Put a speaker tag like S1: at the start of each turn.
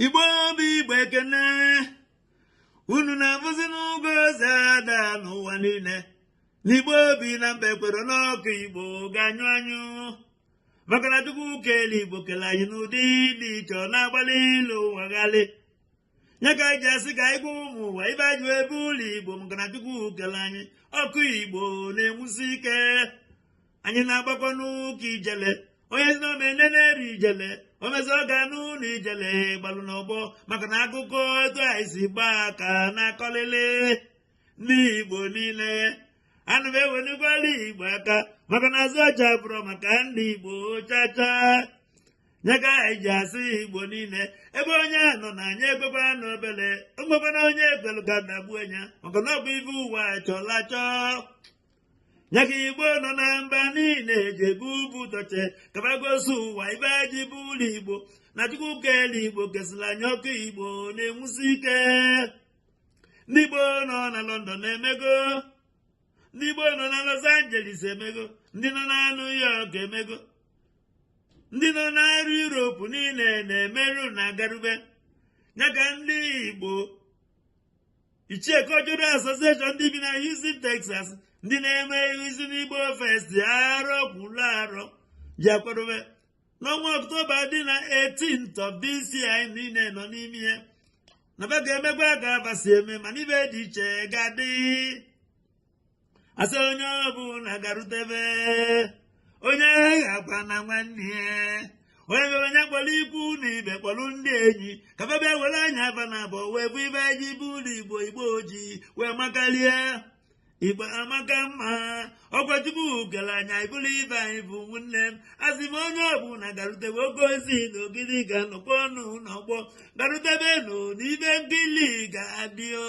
S1: igbo bụ igbo ekene unu na-afụzi n'ụgwọ eze ada n'ụwa niile na igbo bi na mba ekwerọ na ọkụ igbo ga-anyụ anyụ maka na chukwu kele igbo kele anyị n'ụdị dị iche ọ na-agba ndị ilo ụwa ghalị nya ka anyị ji asị ka anyị gwa ụmụ ụwa ife anyị ji bụlụ igbo maka na chukwu kele anyị ọkụ igbo na-enwusi ike anyị na-agbakọ ọnụ ka ijele onye si n'ome nne na-eri ijele o mezie ọ ga-anụ na ijele gbalụ n'ọgbọ maka na akụkọ etu anyị si gbaa ka na-akọlịlị ndị igbo niile ana m ewenikwalụ igbo aka maka na azụ ọcha abụrọ maka ndị igbo chacha nya ka anyị ji asị igbo niile ebe onye nọ na anya ekwekwa na obele mgbekwana onye ekwelu ka na gbuo anya maka na ọ bụ ife ụwa chọlụ achọ nya ka igbo nọ na mba niile eji ebu ebu torch ka fa gosi ụwa ife anyị ji bụlụ igbo na chukwu kele igbo kesịlị anyị ọkụ igbo na-enwusi ike ndị igbo nọ na lọndọn emego ndị igbo nọ na los angeles emego ndị nọ na new york emego ndị nọ n'arụ Europe niile na-emerụ na agarube ya ka ndị Igbo ichie Cultural Association ndị bi na Houston Texas ndị na-eme izi n'Igbo Fest arọ kwuru arọ ji akwadobe n'ọnwa ọktoba dị na 18th of this year anyị nọ n'ime ya na fa ga-emekwa ka fa si eme mana ife dị iche ga-adị asị onye ọbụla garutebe onye aghana nwanne ya onye bịaba nya kpọrọ ikwu na ibe kpọrọ ndị enyi ka fa bịa were anya fa na abụọ wee fụ ife anyị ji bụlụ igbo igbo ji wee makalịa igbo amaka mma ọkwa chukwu kere anyị abụrụ ife anyị bụ ụmụnne m asị m onye ọbụla garutebe oke ozi na ogidi ga-anọkwa ọnụ n'ọgbọ garutebe nụ na ife nkili ga-adị o